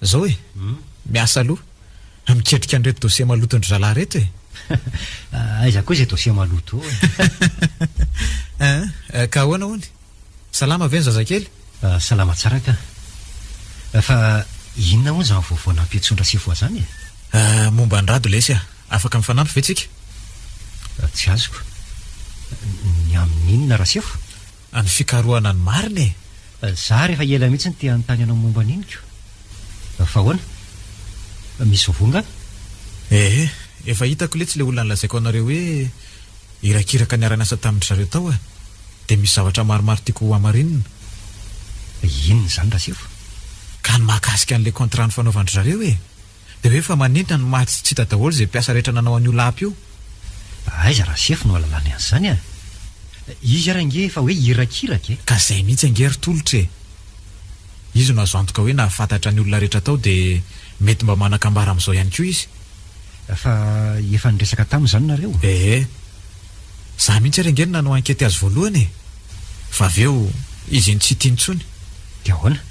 Zao e, miasa aloha a, miketrika an'ireto dossier maloton'dry zalahy reto e! Aiza koa izay dossier maloto eo e! Ka ahoana hono? Salama ve ny zazakely? Salama tsara ka! Fa inona hono izany vaovao nampiantsoan-dRasifoa izany e? Momba an'i Rado lesy a! Afaka mifanampy ve tsika? Tsy azoko. Ny amin'inona Rasefo? Any fikarohana ny marina e! Zary efa ela mihitsy no te hanontany anao momba an'iny ko! Fa ahoana? Misy voa nga? Ee, efa hitako letsy le olona nolazaiko anareo hoe irakiraka niara-niasa tamin-dry zareo tao a! Dia misy zavatra maromaro tiako hohamarinina. Inona izany Rasefo? Ka ny mahakasika an'le contrat nifanaovan-dry zareo e! Dia hoe efa manentana ny maty sy tsy hita daholo izay mpiasa rehetra nanao an'io lapa io. Aiza raha sefo no ahalalany an'izany a! Izy ary ange efa hoe irakiraka e! Ka izay mihitsy ange ry tolotra e! Izy no azo antoka hoe nahafantatra ny olona rehetra tao dia mety mba manan-kambara amin'izao ihany koa izy. Fa efa niresaka taminy izany nareo? Ee. Za mihitsy ary ange no nanao ankety azy voalohany e! Fa avy eo izy iny tsy tia intsony. Dia ahoana?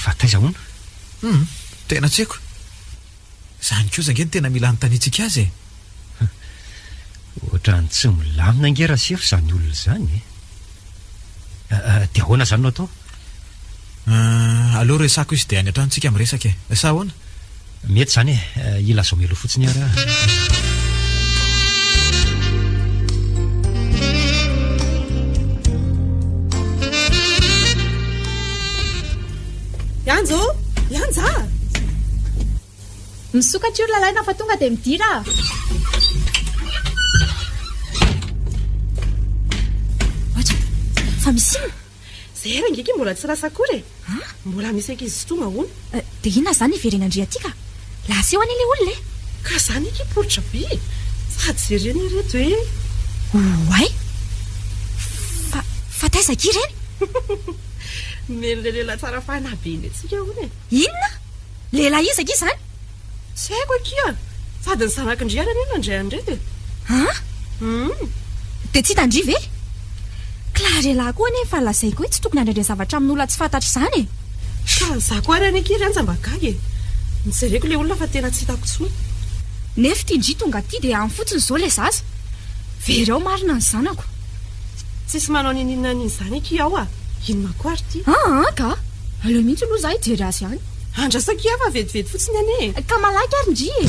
Fa taiza hono? Humm, tena tsy haiko. Izany kosa ange no tena mila anontaniantsika azy e! Ohatrany tsy milamina ange Rasefo izany olona izany e! Dia ahoana izany no atao? Ah, aleo resako izy dia any an-trano isika miresaka e! Sa ahoana? Mety izany e! Ilazao mialoha fotsiny ary aho. Ianja ô! Ianja a! Misokatra io ry lalaina fa tonga dia midira a! Ohatra, fa misy inona? Izay era angeky mbola tsy lasa akory e! Mbola misy ankizy tsy tonga hono. Dia inona izany hiverenandriantsika a! Lasa eo anie ilay olona e! Ka izany eky poritra be e! Sady jerena ireto hoe. Oay! Fa, fa taiza akia ireny? Nomeny le lehilahy tsara fanahy be indray tsika hono e. Inona? Lehilahy iza akia zany? Tsy haiko akia, sady ny zanaky ndry ary anie nandray an'ireto e. An? Hum. Dia tsy hitan-dry ve? Klarelahy koa anie efa lazaiko hoe tsy tokony handrendre zavatra amin'olona tsy fantatra izany e. Ka za koa ary anie akia ry Anja mba gaga e. Nojereko le olona fa tena tsy hitako tsony. Nefty ndry tonga aty dia any fotsiny izao le zaza. Very ao marina ny zanako. Tsisy manao ninininona an'izany akia aho a! Inona koa ary ity? Aa ka! Aleo mihitsy aloha izaho hijery azy any. Andraso akia fa vetivety fotsiny anie e! Ka malaky ary ndry e!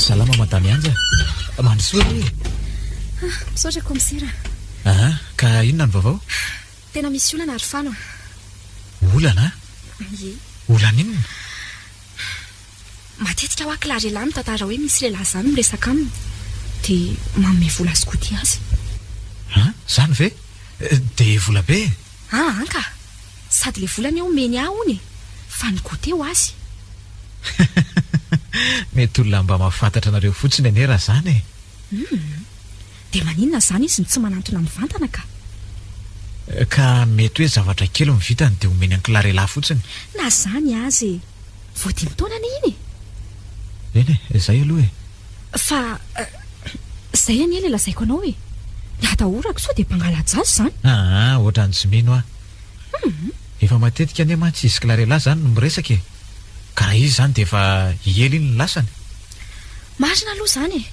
Salama Madame Anja. Mandrosoa anie e! Misaotra Kaomisera. Aa ka inona ny vaovao? Tena misy olana ary fano a! Olana? Ie. Olana inona? Matetika hoa kila lehilahy mitantara hoe misy lehilahy zany miresaka aminy dia manome vola skoty azy. Ha? Zany ve? Dia vola be e! A an ka! Sady le vola anie omeny ahy hono e! Fa ny goûter ho azy. Mety olona mba mahafantatra anareo fotsiny anie raha zany e! Hum! Dia maninona izany izy no tsy manantona mivantana ka? Ka mety hoe zavatra kely no vitany dia omeny an-kilarelahy fotsiny? Na izany aza e! Vao dimy taona anie iny e! Eny e, izay aloha e! Fa izay anie ilay lazaiko anao e! Ny hatahorako sao dia mpangala-jaza izany! Aa! Ohatran'ny tsy mino aho! Hum! Efa matetika anie mantsy izy kilarelahy izany no miresaka e! Ka raha izy izany dia efa hiely iny ny lasany! Marina aloha izany e!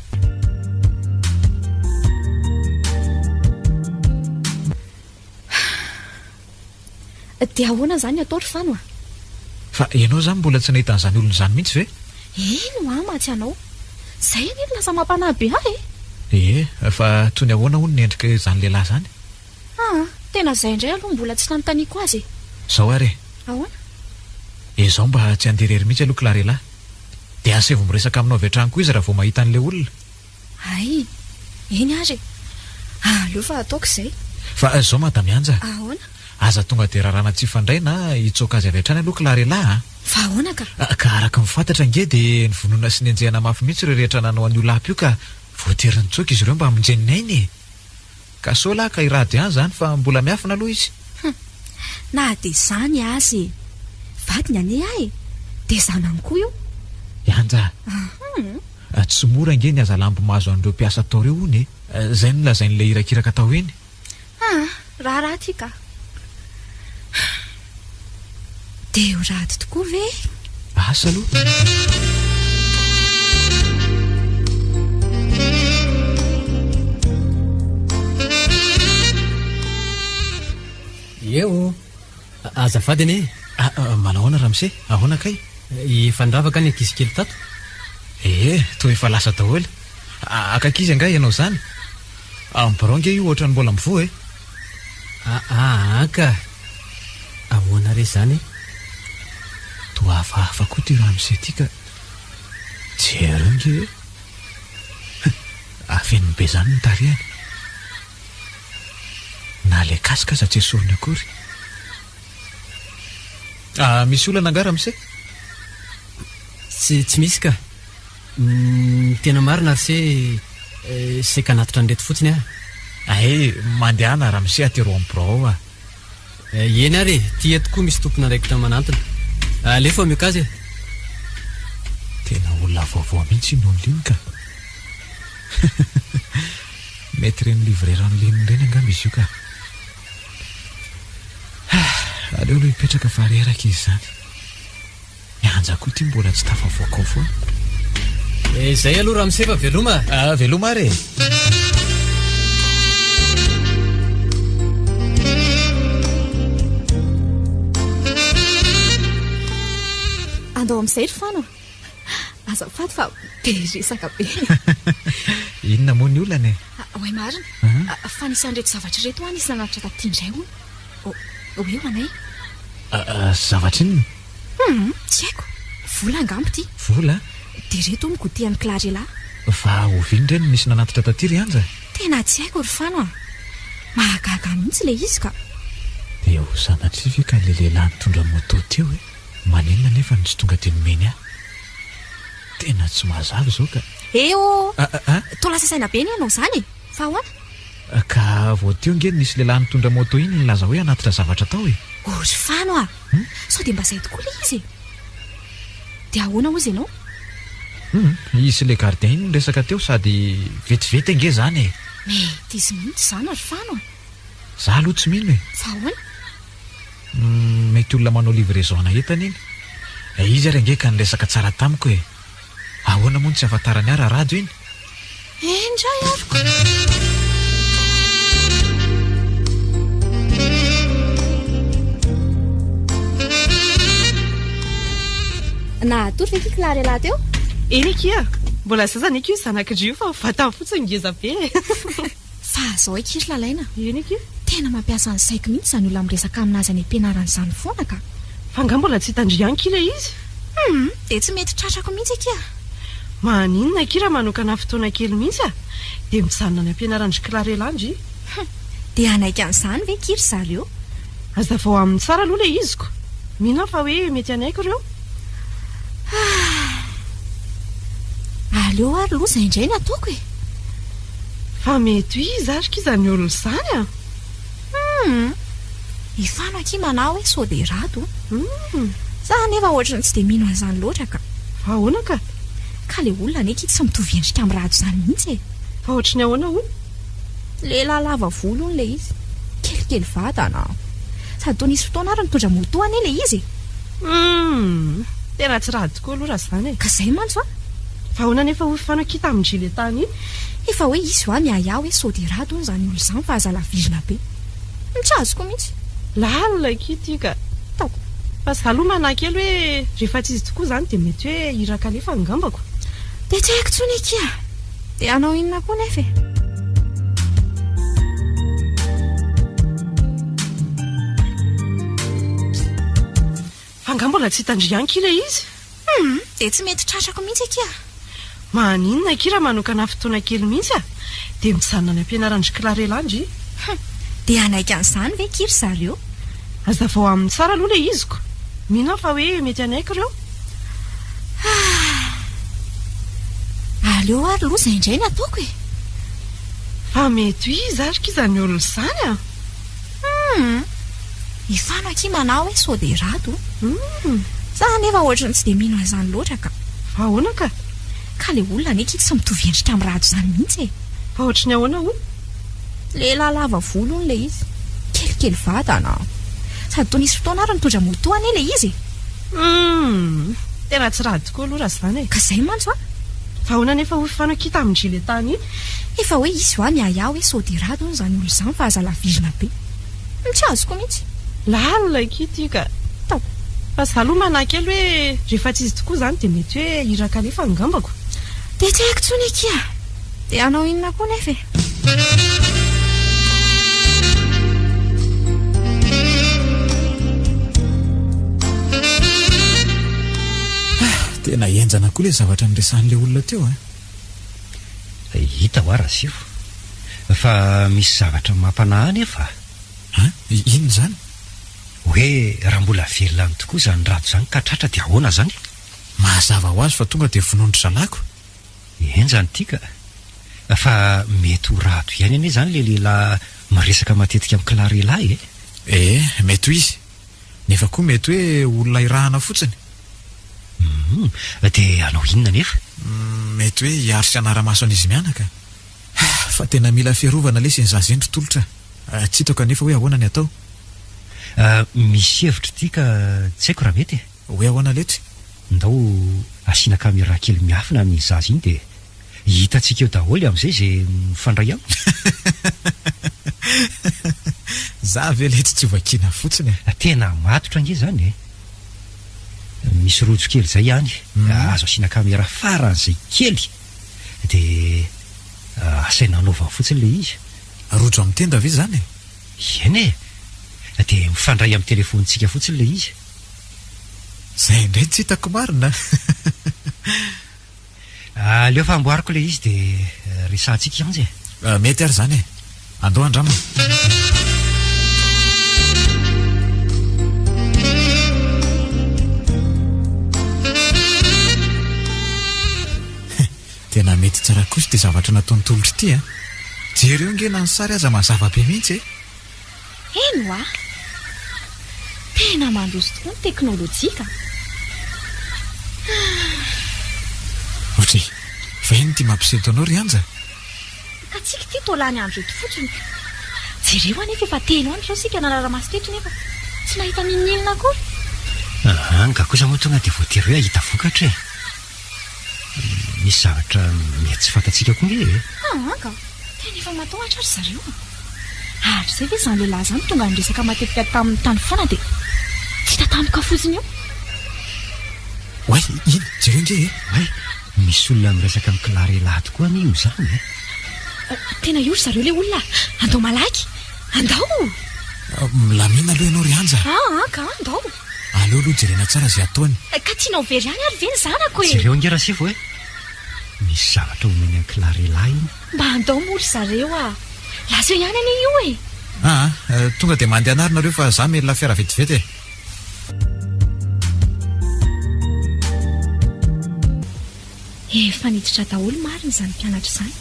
Dia ahoana izany atao ry Fano a? Fa ianao izany mbola tsy nahita an'izany olona izany mihitsy ve? Eny hoa matsy anao. Izay anie no lasa mampanahy be ahy e! Ie, fa toy ny ahoana hono ny endrika izany lehilahy izany? Aa, tena izay indray aloha mbola tsy nanontaniako azy e! Izao ary e! Ahoana? Izaho mba tsy handeha irery mihitsy aloha k'la re lahy. Dia asevo miresaka aminao avy hatrany koa izy raha vao mahita an'ilay olona. Hay! Eny ary e! Aleo fa ataoko izay. Fa izao Madame Yanja. Ahoana? Aza tonga dia raràna tsy hifandray na hitsoaka azy avy hatrany aloha k'la r'elah a! Fa ahoana ka? Ka araka ny fantatra ange dia nivonona sy nenjehana mafy mihitsy ireo rehetra nanao an'io lapa io ka voatery nitsoaka izy ireo mba hamonjeny ny ainy e! Ka sao lahy ka i Rado ihany izany fa mbola miafina aloha izy. Hum, na dia izany aza e! Vadiny anie ahy e! Dia zanany koa io! Yanja a! Tsy mora ange ny hazalambo mahazo an'ireo mpiasa atao ireo hono e! Izay no nolazain'ilay irakiraka tao iny. Ah, raharaha ity ka! Dia ho rado tokoa ve? Asa aloha. Eo, azafady anie. Ah, ah, manao ahoana Ramse? Ahoana kay? Eh, efa nravaka ny ankizy kely tato. Eh, eh, toa efa lasa daholo. Ah, Akakizy angaha ianao izany? Ambironga io ohatran'ny mbola mivoha eh. Aa ka! Ahoana re izany e? Toa hafahafa koa ity ramose ity ka! Jereo nge hoe! Afeniny be izany ny tarehiny. Na ilay casque aza tsy esoriny akory. Ah, misy olana angaha ramose? Tsy, tsy misy ka! Ny tena marina ry se eh, seka anatitra an'ireto fotsiny ah. Ahe, mandehana ramose aty roa amby birao ao ah. Eh, eny ary e, ty eto koa misy tompon'andraikitra manantona. Alefa mioka azy e. Tena olona vaovao mihitsy iny Onlin ka. Mety ireny livrera Onlin ireny angamba izy io ka. Ah, aleo aloha hipetraka fa reraka izy izany. Mianja koa ity mbola tsy tafavoaka ao foana. Eh, izay aloha Ramse fa veloma. Ah, veloma ary e. Andao amin'izay ry Fano. Azafady fa be resaka be. Inona moa ny olana e? Ah, oay marina. Mhm. Ah, Fa nisy an'ireto zavatra ireto ho'a nisy nanatitra taty indray hono. O- Oe ho anay. Ah, ah, Zavatra inona? Humm, tsy haiko. Vola angamba ity. Vola? Dia reto hono goûter an'i Clarela. Va oviana indray no nisy nanatitra taty ry Anja? Tena tsy haiko ry Fano a. Mahagaga ahy mihitsy ilay izy ka. Dia ho sanatria ve ka ilay lehilahy nitondra moto teo e? Maninona anefa no tsy tonga dia nomeny ahy? Tena tsy mazava izao ka. He ô! Toa lasa saina be anie ianao izany e! Fa ahoana? Ka vao teo ange nisy lehilahy nitondra moto iny nilaza hoe hanatitra zavatra tao e! Oh ry Fano a! Hum, sao dia mba izay tokoa ilay izy e? Dia ahoana hozy ianao? Hum, izy sy ilay gardien iny niresaka teo sady vetivety ange izany e! Mety izy mihitsy izany ry Fano a! Izaho aloha tsy mino e! Fa ahoana? Hum, mety olona manao livraison-na entana iny. Ilay izy ary ange ka niresaka tsara tamiko e! Ahoana moa no tsy ahafantaran'i Ara Rado iny? Indray ary koa! Nahatory ve Kikla re lahy teo? Eny akia! Mbola zaza anie koa io zanak'i Rio fa vatany fotsiny ngeza be e! Fa zao akia ry Lalaina a! Eny akia! Tena mampiasa ny saiko mihitsy izany olona miresaka aminazy any am-pianarana izany foana ka! Fa angaha mbola tsy tandrify any akia ilay izy? Humm! Dia tsy mety tratrako mihitsy akia a! Maninona akia raha manokana fotoana kely mihitsy a! Dia mijanona any am-pianaran-dry Clarel andry! Humm! Dia hanaiky an'izany ve akia ry zareo? Azavao aminy tsara aloha ilay izy ko. Mino aho fa hoe mety hanaiky ireo. Ah! Aleo ary aloha izay indray no ataoko e! Fa mety ho iza ary koa izany olona izany an! Humm! Efano akia manao hoe sao dia rado o! Humm! Za anefa ohatry ny tsy dia mino an'izany loatra ka! Fa ahoana ka? Ka ilay olona anie akia tsy mitovy endrika amin'ny rado izany mihitsy e! Fa ohatry ny ahoana hono? Lehilahy lava volo hono ilay izy. Kelikely vatana. Sady toa nisy fotoana ary nitondra moto anie ilay izy e! Humm! Tena tsy rà tokoa aloha raha izany e! Ka izay mantsy an! Fa ahoana anefa hoy Fanaky tamin'i Julieta anio? Efa hoe izy hoa miahiahy hoe sao dia ratsy hono izany olona izany fa aza lavizina be. Tsy azoko mihitsy. Lalina akia ity ka! Ataoko. Fa izaho aloha manahy kely hoe rehefa tsy izy tokoa izany dia mety hoe iraka alefa angambako. Dia tsy haiko intsony akia! Dia hanao inona koa nefa e? Fa angaha mbola tsy hitan-dry Yanky ilay izy? Hum, dia tsy mety tratrako mihitsy akia. Maninona akia raha manokana fotoana kely mihitsy a! Dia mijanona any am-pianaran-dry Clarella an-dry. Hum, dia hanaiky an'izany ve akia ry zareo? Azavao aminy tsara aloha ilay izy ko. Mino aho fa hoe mety hanaiky ireo. Ah! Aleo ary aloha izay indray no ataoko e! Fa mety ho iza ary koa izany olona izany an! Humm! I Fano akia manao hoe sao dia rado o! Humm! Za anefa ohatry ny tsy dia mino an'izany loatra ka! Fa ahoana ka? Ka ilay olona anie akia tsy mitovy endrika amin'ny rado izany mihitsy e! Fa ohatry ny ahoana hono? Lehilahy lava volo hono ilay izy. Kelikely vatana. Sady toa nisy fotoana ary nitondra moto anie ilay izy e! Humm! Tena tsy raha tokoa aloha raha izany e! Ka izay mantsy an! Fa ahoana anefa hoy Fano akia tamin'i Julieta anio? Efa hoe hisy hoa ny ahiahy hoe sao dia ratsy hono izany olona izany fa aza lavizina be. Humm! Tsy azoko mihitsy. Lalina akia ity ka! Tao. Fa izaho aloha manahy kely hoe rehefa tsy izy tokoa izany dia mety hoe iraka alefa angambako. Dia tsy haiko intsony akia! Dia hanao inona koa nefa e? tena henjana koa ilay zavatra niresahan'ilay olona teo a eh. hita ho ara sio fa misy zavatra mampanahy nefa a inona izany hoe raha mbola velona any tokoa izany rado izany ka tratra dia ahoana izany mazava ho azy fa tonga dia vonoin-dry zalahy ko Enjana ity ka! Fa mety ho Rado ihany anie izany ilay lehilahy miresaka matetika amin'i Clare lahy e! Ee, mety ho izy. Nefa koa mety hoe olona irahana fotsiny. Hum, dia hanao inona anefa? Hum, mety hoe hiaro sy hanara-maso an'izy mianaka. Ha, fa tena mila fiarovana lesy ny zaza eny ry Tolotra a! Tsy hitako anefa hoe ahoana ny atao. Misy hevitra ity ka tsy haiko raha mety e! Hoe ahoana letry? Ndao asiana caméra kely miafina an'iny zaza iny dia hitantsika eo daholo amin'izay izay mifandray aminy. Za ve letry tsy hovakiana fotsiny e! Tena matotra ange zany e! Misy rojo kely zay ihany azo asiana caméra faran'izay kely dia asaina anaovany fotsiny le izy. Rojo amin'ny tenda ve zany e? Eny e! Dia mifandray amin'ny téléphone-tsika fotsiny le izy. Zay indray tsy hitako marina a! Aleo fa amboariko ilay izy dia resahantsika i Anja e! Mety ary izany e! Andao andrama! Tena mety tsara kosa ity zavatra nataon'i Tolotry ity a! Jereo ange na ny sary aza mazava be mihitsy e! Eny ho'a! Tena mandroso tokoa ny teknolojia ka! Ohatry va iny ity mampisento anao ry Anja? Ka tsika ity toa lany andro eto fotsiny ka! Jereo anefa efa telo andro izao isika nanara-maso teto nefa tsy nahita n'inon'inona akory! Anga kosa moa tonga dia voatery hoe hahita vokatra e! Misy zavatra mety tsy fantatsika koa nge e. Haa ka, tena efa matahotra ry zareo a. Hatrizay ve izany lehilahy izany tonga niresaka matetika taminy tany foana dia tsy hita tampoka fotsiny eo? Oay, iny, jereo nge e. Oay, misy olona miresaka amin'i Clare lahy tokoa anie io izany e. Tena io ry zareo ilay olona a. Andao malaky. Andao! Milamina aloha ianao ry Anja a. Haa ka, andao. Aleo aloha jerena tsara izay ataony. Ka tianao very any ary ve ny zanako e? Jereo ange Rasivo e! Misy zavatra homeny an'i Clary lahy iny. Mba handao moa ry zareo a! Lazeo ihany anie io e! Aa, tonga dia mandehana ary nareo fa za mila fiara vetivety e! Efa niditra daholo marina izany mpianatra izany.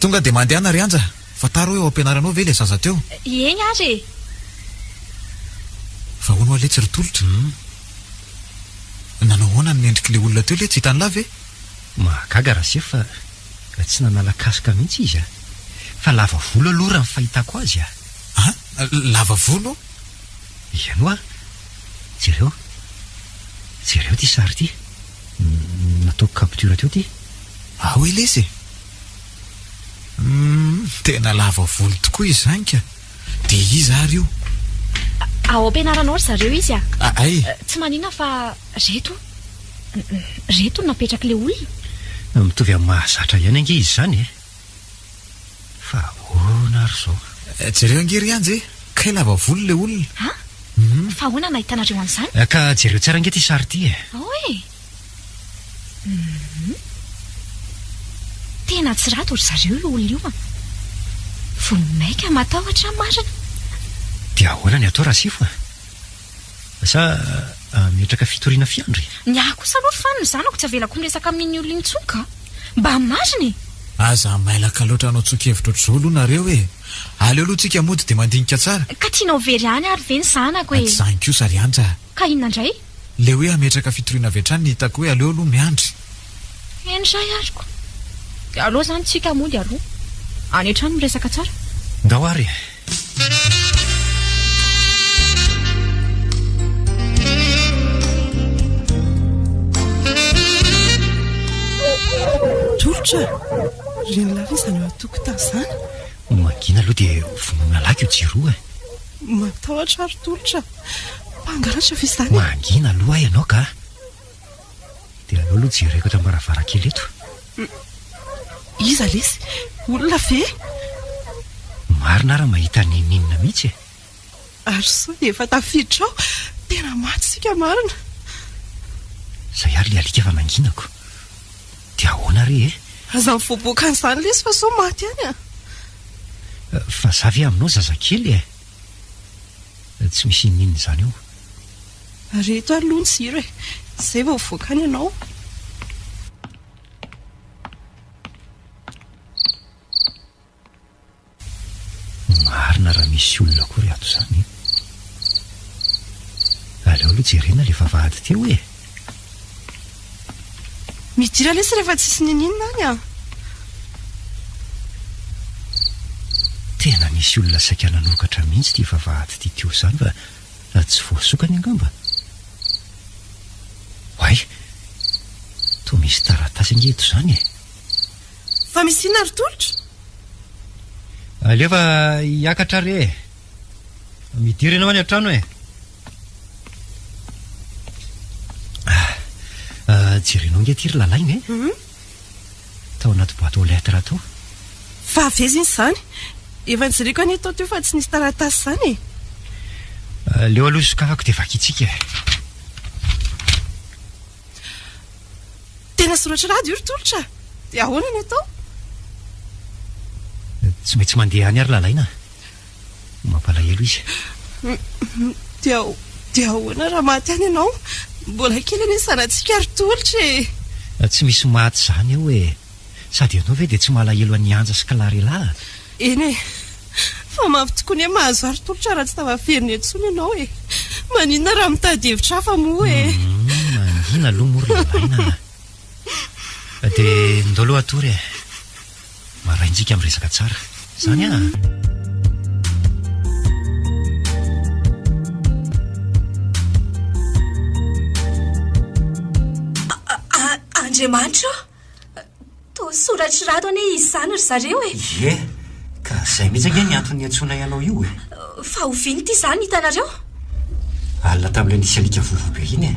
Tonga dia mandehana ry Anja. Fantaro hoe ao am-pianaranao ve ilay zaza teo? Eny ary e! Fa hono oa letsy ry tolotra? Nanao ahoana ny mendrik'ilay olona teo letsy? Hitan'lah ve? Mahagaga raha sefo fa tsy nanala casque mihitsy izy a! Fa lava volo aloha raha ny fahitako azy a! A! Lava volo? Eny oa! Jereo! Jereo ity sary ity! Nataoko capture teo ity! Ao ilay izy e! Humm tena lava volo tokoa i Zainka, de iza ary io? Ao am-pianaranao ry zareo izy a! Aay! Tsy manina fa reto, reto no napetraky le olona. Mitovy amin'ny mahazatra ihany ange izy izany e! Fa ahoana ary izao? Jereo ange ry Anja e! Kay lava volo le olona! An! Fa ahoana no nahitanareo an'izany? Ka jereo tsara ange ity sary ity e! Ao e! Hum. Tena tsy rato ry zareo io olona io an! Vao maika matahotra marina! Dia ahoana ny atao Rasifo a? Sa hametraka fitoriana fiandry e? Ny ahy kosa aloha fa ny zanako tsy avelako miresaka amin'iny olona iny tsony ka! Mba marina e! Aza mailaka loatra hanao tsoa-kevitra ohatr'izao aloha nareo e! Aleo aloha tsika mody dia mandinika tsara! Ka tianao very any ary ve ny zanako e? Ady izany kosa ry Anja a! Ka inona indray? Le hoe hametraka fitoriana avy hatrany ny hitako hoe aleo aloha miandry. Eny zay azoko. Dia aleo zany tsika mody aloha. Any hatrany miresaka tsara. Ndao ary e. Tolotra a! Ry an'lah ve izany eo an-tokotany izany? Mangina aloha dia vonoina lahy ko jiro e. Matahotra ary Tolotra a! Mpangalatra ve izany? Mangina aloha ahy ianao ka. Dia aleo aloha jereko eto am-baravarankely eto. Iza lesy? Olona ve? Marina ary mahita n'inon'inona mihitsy e. Ary sao dia efa tafiditra ao. Tena maty isika marina. Izay ary ilay alika efa nanginako. Dia ahoana re e? Aza mivoaboaka an'izany lesy fa sao maty any a. Fa za ve aminao zazakely e? Tsy misy ininona izany eo. Ary eto ary aloha ny jiro e. Izay vao hivoaka any ianao. Marina raha misy olona akory ato izany e. Aleo aloha jerena ilay vavahady teo e. Midira lesy rehefa tsisy nininona any an. Tena nisy olona saika nanokatra mihitsy ity vavahady ity teo izany fa raha tsy voasokany angamba. Oay, toa misy taratasy ange eto izany e. Fa misy inona ry tolotra? Alefa hiakatra re e. Midira ianao any an-trano e. Ah, jerenao nge ty ry lalaina e. Mhm. Tao anaty boîte aux lettres tao. Fa avezina izany. Efa nijiriako anie tao teo fa tsy nisy taratasy izany e. Ah, leo aloha sokafako dia vakintsika e. Tena soratra rado io ry tolotra. Dia ahoana ny atao? Tsy maintsy mandeha any ary lalaina. Mampalahelo izy. Dia dia ahoana raha maty any ianao? Mbola kely anie zanatsika ry Tolotra e! Tsy misy maty izany ao e! Sady ianao ve dia tsy malahelo an'i Anja sy Clarela a! Eny e! Fa mafy tokoa ny hoe mahazo ahy ry Tolotra raha tsy tafaverina intsony ianao e! Maninona raha mitady hevitra hafa moa e! Mangina aloha moa ry ilaina a! Dia ndao aloha hatory e! Maraintsika miresaka tsara. Zany an! Andriamanitra ô! Toa soratry rato anie izy izany ry zareo e! Ie, ka izay mihitsy ange ny antony niantsoanay anao io e! Fa oviana ity izany hitanareo? Alina tamin'ilay nisy alika vovo be iny e!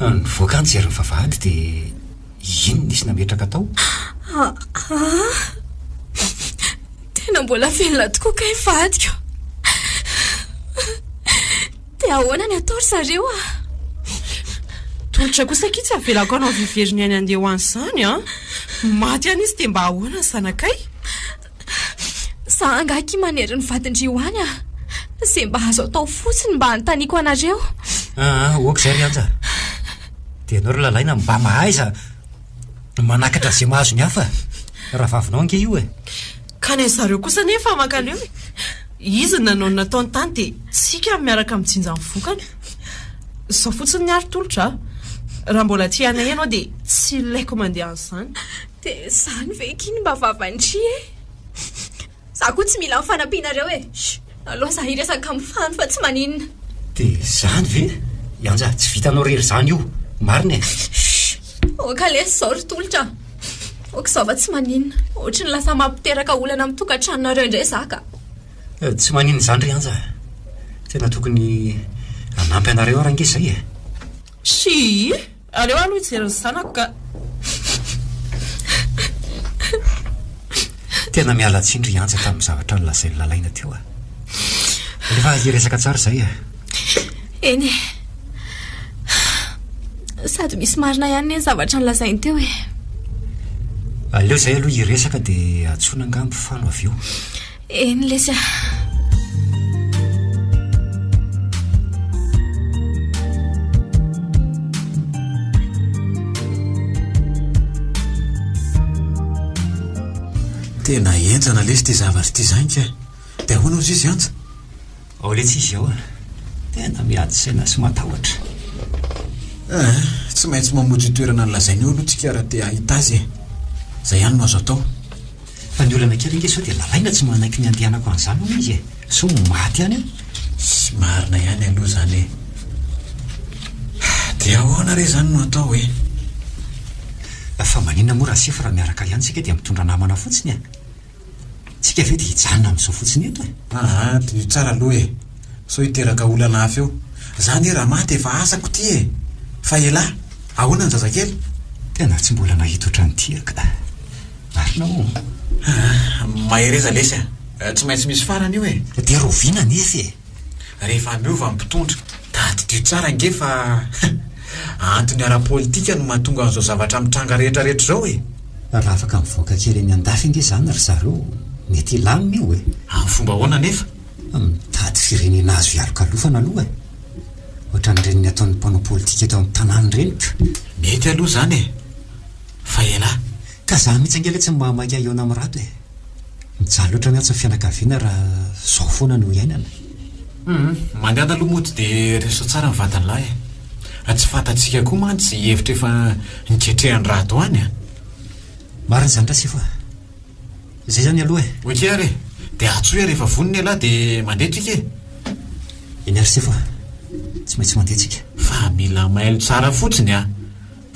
Nivoaka an-jery ny vavahady dia... Inn nisy nametraka tao? Aah! Tena mbola velona tokoa kay vadiko. Dia ahoana ny atao ry zareo ah? Tolotra kosa akia tsy avelako hanao vivery ny ainy andeha ho any izany an! Maty any izy dia mba ahoana ny zanakay? Za angaha akia manery ny vadin-dry ho any ah. Ze mba azo atao fotsiny mba anontaniako anareo. Aa, ok izay ry Anja. Dia ianao ry Lalaina mba mahaiza manakatra ze mahazo ny hafa. Rahavavinao ange io e. Ka ny an'zareo kosa anie efa makaleo e. Izy ny nanao ny nataony tany dia tsika ny miaraka mijinja ny vokany. Zao fotsiny ny ary tolotra ah. Raha mbola tia anay ianao dia tsy ilaiko mandeha an'izany. Dia izany ve ky ny mba vavan-dry e? Izaho koa tsy mila ny fanampianareo e! Aleo izaho hiresaka amin'ny fano fa tsy maninona. Dia izany ve? Ianja, tsy vitanao irery izany io. Marina e? Aoka lesy izao ry tolotra. Aoka izao fa tsy maninona. Ohatry ny lasa mampiteraka olana amin'ny tokantranonareo indray izaho ka. Eh, tsy maninona izany ry Ianja. Tena tokony hanampy anareo aho raha ange izay e. Shii! Aleo aloha hijery ny zanako ka. Tena miala tsiny ry Anja tamin'ny zavatra nolazain'i Lalaina teo a. Alefa hiresaka tsara izay a. Eny e. Sady misy marina ihany ny zavatra nolazainy teo e. Aleo izay aloha hiresaka dia antsoina angaha mpifano avy eo. Eny lesy ah. Tena enjana lesy ity zavatra ity zany ka. Dia ahoana hozy izy Anja? Ao letsy izy ao an! Tena miady saina sy matahotra. Ah, tsy maintsy mamotra io toerana nolazainy io aloha tsika raha te hahita azy e. Izay ihany no azo atao. Fa ny olana kely ange sao dia lalaina tsy manaiky ny handehanako an'izany hono izy e. Sao maty any aho. Tsy marina ihany aloha izany e. Dia ahoana re izany no atao e? Fa maninona moa Rasefo raha miaraka ihany isika dia mitondra namana fotsiny e? Tsika ve de hijanona amizao fotsiny eto e. Aa diniho tsara aloha e, sao hiteraka olana hafa eo. Za anie raha maty efa asako ty e. Fa elah, ahoana ny zazakely? Tena tsy mbola nahita otrany ty aho ka. Marina o. Aa mahereza lesy a, tsy maintsy misy farany io e. De rahoviana anefa e. Rehefa miova ny mpitondra. Tadidio tsara ange fa antony ara-politika no mahatonga an'izao zavatra mitranga rehetrarehetra izao e! Raha afaka mivoaka kely eny an-dafy ange izany ry zareo, mety hilamina io e! Amin'ny fomba ahoana anefa? Mitady firenena azo hialokalofana aloha e! Ohatran'ireny nataon'ny mpanao politika eto amin'ny tanàna ireny ka! Mety aloha izany e! Fa elah! Ka za mihitsy ange le tsy mba maika hihaona amin'ny rato e! Mijaly otrany atsy ny fianakaviana raha zao foana no iainana. Humm, mandiana aloha mody dia reso tsara ny vadiny lahy e. Tsy fantatsika koa mantsy izay hevitra efa niketrehan'i Rado any a. Marina izany Rasefo a. Izay izany aloha e. Ok ary e. Dia antsoy aho rehefa vonona ialahy dia mandeha tsika e. Eny Rasefo a. Tsy maintsy mandeha tsika. Fa mila mailo tsara fotsiny a.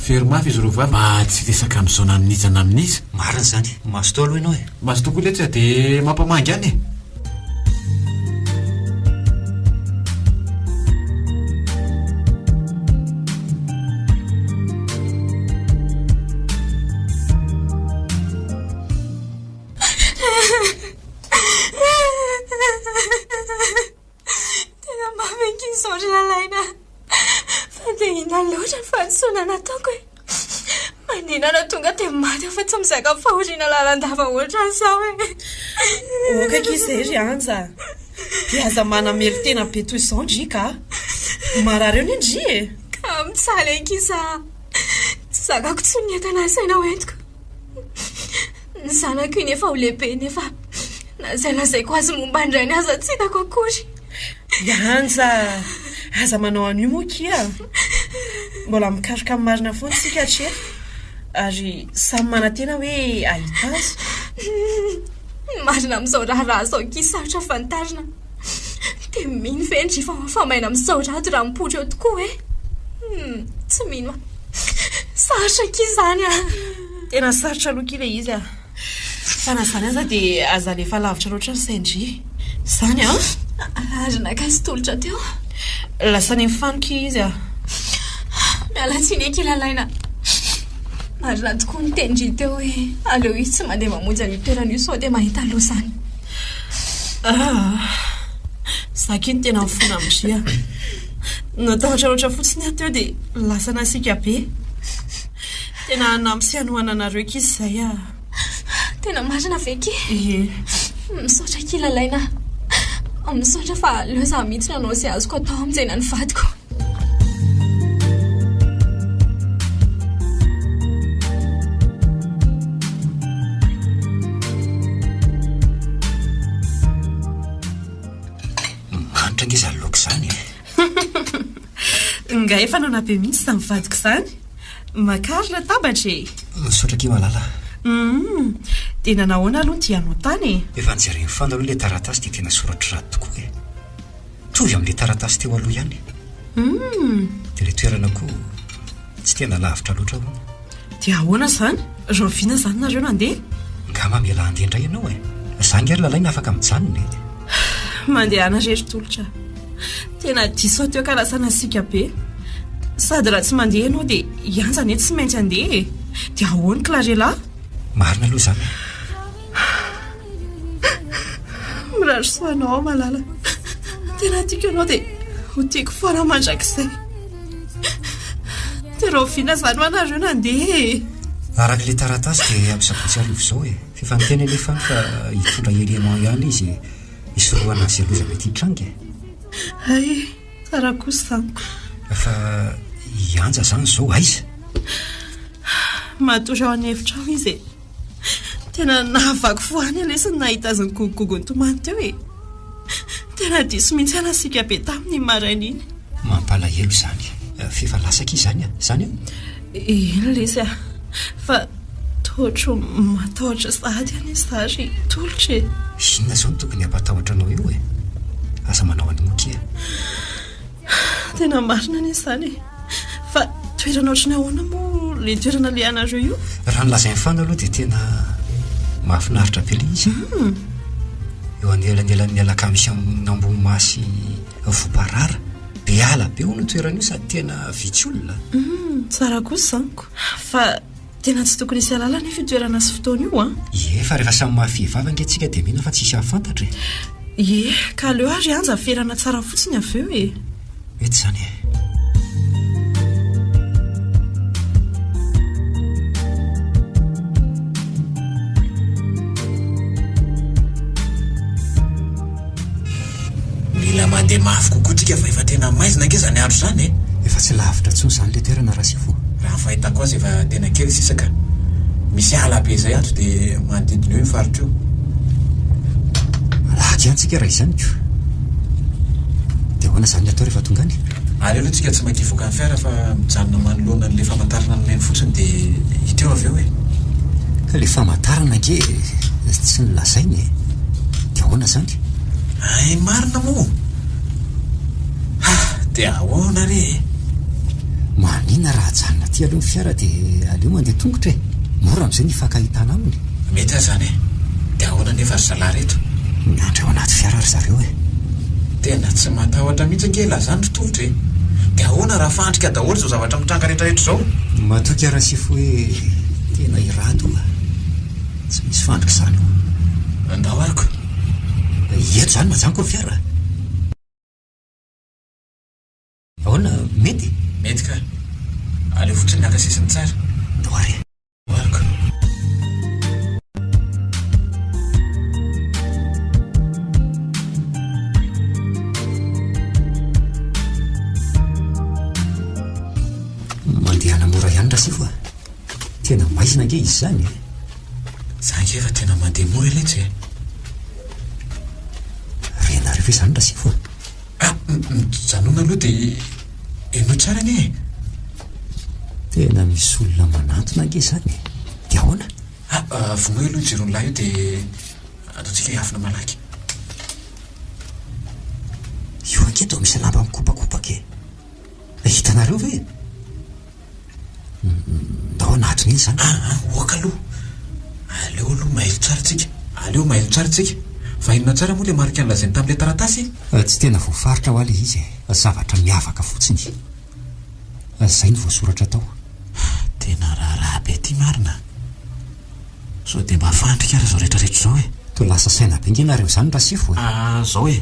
Very mafy izy roa vavy mba tsy hiresaka amin'izao na amin'iza na amin'iza. Marina izany. Mazotoa aloha ianao e. Mazotoa koa letra dia mampamangy any e. Tena mamy ange izao ry Lalaina a! Fa dia inona loatra ny fahadisoana nataoko e! Maninona tonga dia maty aho fa tsy mizaka fahoriana lalandava ohatran'izao e! Ok akia izay ry Anja a! Dia aza manamelo-tena be toy izao ndry ka! Marary eo anie ndry e! Ka mitsaly akia izaho a! Tsy zakako intsony ny entana asaina hoentiko. Ny zanako iny efa ho lehibe nefa na izay lazaiko azy momba ny rainy aza tsy hitako akory. Yanja, aza manao an'io moa akia. Mbola mikaroka amin'ny marina foana isika hatreto ary samy manantena hoe hahita azy. Ny marina amin'izao raharaha izao akia sarotra fantarina. Dia mino ve ny rifa ho afa-maina amin'izao rado raha mipoitra eo tokoa hoe tsy mino aho. Sarotra akia izany an! Tena sarotra aloha ki le izy a! Fa na zany aza de aza alefa lavitra loatra ny sain-dry zany an! Ary naka sy tolotra teo. Lasa any amin'ny fano ki izy a! Miala tsiny eky Lalaina! Marina tokoa ny tenin-dry teo hoe aleo izy tsy mandeha mamonjy an'io toerana io sao dia mahita loza any. Aa! Za ki no tena mifona amin-dry a! Natahotra loatra fotsiny aho teo dia lasa nasiaka be. Tena hanampy sy hanohana anareo akia izay a. Tena marina ve ki? Ie. Misaotra akia Lalaina a. Misaotra fa aleo izaho mihitsy no hanao izay azoko atao hamonjena ny vadiko. Manitra ange izany laoka izany e. Nga efa nanao be mihitsy izany vadiko izany? Makary latabatra e! Misaotra akia malala a! Humm! Dia nanahoana aloha ity anotana e? Efa nojereny foana aloha ilay taratasy dia tena soratr'i Rado tokoa e! Mitovy amin'ilay taratasy teo aloha ihany. Humm! Dia ilay toerana koa. Tsy tena lavitra loatra hono. Dia ahoana izany? Rahoviana izany nareo nandeha? Nga mamela handeha indray ianao e? Za nga ry lalaina afaka mijanona e? Mandehana re ry tolotra. Tena diso hateo ka lasa nasiaka be. Sady raha tsy mandeha ianao dia Yanja anie tsy maintsy handeha e! Dia ahoan klarela? Marina aloha izany e! Mirary soa anao aho malala. Tena tiako ianao dia ho tiako foana aho mandrakizay. Dia rahoviana izany ho anareo nandeha e? Araka ilay taratasy dia amin'ny sabotsy hariva izao e. Efa niteny anefa aho fa hitondra élément ihany izy hisorohana an'i Zeloza mety hitranga e. Hay, tsara kosa izany. Fa i Anja izany izao aiza? Matory ao an'efitrano izy e. Tena nahavaky fo ahy ny lesy nahita azy nigogogogo nitomany teo e. Tena diso mihitsy aho nasiaka be taminy iny maraina iny. Mampalahelo izany. F'efa lasa akia izany an? Izany an? Eny lesy a. Fa toa ohatry ny matahotra sahady an izy za ry tolotra e. Inona izao no tokony hampatahotra anao eo e? Aza manao an'io akia. Tena marina anie izany e. Fa toerana ohatran'ny ahoana moa ilay toerana alehanareo io? Raha ny lazain'ny fana aloha dia tena mahafinaritra be ilay izy. Hmm. Eo anelanelan'ny alakamisy amin'ny Ambohimasy Voparara. Be ala be hono ny toerana io sady tena vitsy olona. Hmm, tsara kosa izany ko. Fa Tena tsy tokony hisy halala anefa io toerana sy fotoana io an! Ie, fa rehefa samy mahafehy vava ange tsika dia mino fa tsisy hahafantatra e! Ie, ka aleo ary anja haferana tsara fotsiny avy eo e! Mety izany e! Mila mandeha mafy kokoa tsika fa efa tena maizina ange izany andro izany e! Efa tsy lavitra intsony izany le toerana Rasivo a! Raha ny fahitako azy efa tena kely sisa ka! Misy ala be izay ato dia manodidina eo io faritra io. Alahady ihany tsika raha izany ko! Dia ahoana izany ny atao rehefa tonga any? Aleo aloha tsika tsy makia voaka ny fiara fa mijanona manoloana an'ilay famantarana nomeny fotsiny dia hita eo avy eo e! Ka le famantarana ange tsy nolazaina e! Dia ahoana izany? Ay marina moa! Ha! Dia ahoana re e! Maninona raha ajanona aty aloha ny fiara dia aleo mandeha tongotra e! Mora amin'izay ny hifankahitana aminy e! Mety aza izany e! Dia ahoana anefa ry zalahy reto? Miandry ao anaty fiara ry zareo e! Tena tsy matahotra mihitsy ange la izany ry tovitra e! Dia ahoana raha fandrika daholo izao zavatra mitranga rehetrarehetra izao? Matoky Arasifo hoe tena i Rado a! Tsy misy fandrika izany ô! Andao aroko! Eto izany mazàna koa ny fiara a! Ahoana, mety? Mety ka! Aleo fotsiny naka sisiny tsara! Andao ary e! Mandehana mora ihany Rasifo a! Tena maizina ange izy zany e! Za nge efa tena mandeha moa eletsy e! Renareo ve zany Rasifo a? Ah, mijanona aloha de henoy tsara anie e! Tena misy olona manantona ange zany e! De ahoana? Ah, ah vonoy aloha io jiron'ny lahy io de ataontsika hiafina malaky. Io ange toa misy lamba mikopakopaka e! Hitanareo ve? Tao anatiny iny izany. Ah ah, oaka aloha. Aleo aloha mailo tsara tsika. Aleo mailo tsara tsika. Fa inona tsara moa ilay marika nolazainy tamin'ilay taratasy e? Tsy tena voafaritra hoa ilay izy e. Zavatra miavaka fotsiny. Izay no voasoratra tao. Tena raharaha be ity marina. Sao dia mba fandrika ary izao rehetra rehetra izao e? Toa lasa saina be nge nareo izany Rasifo e! Ah, izao e.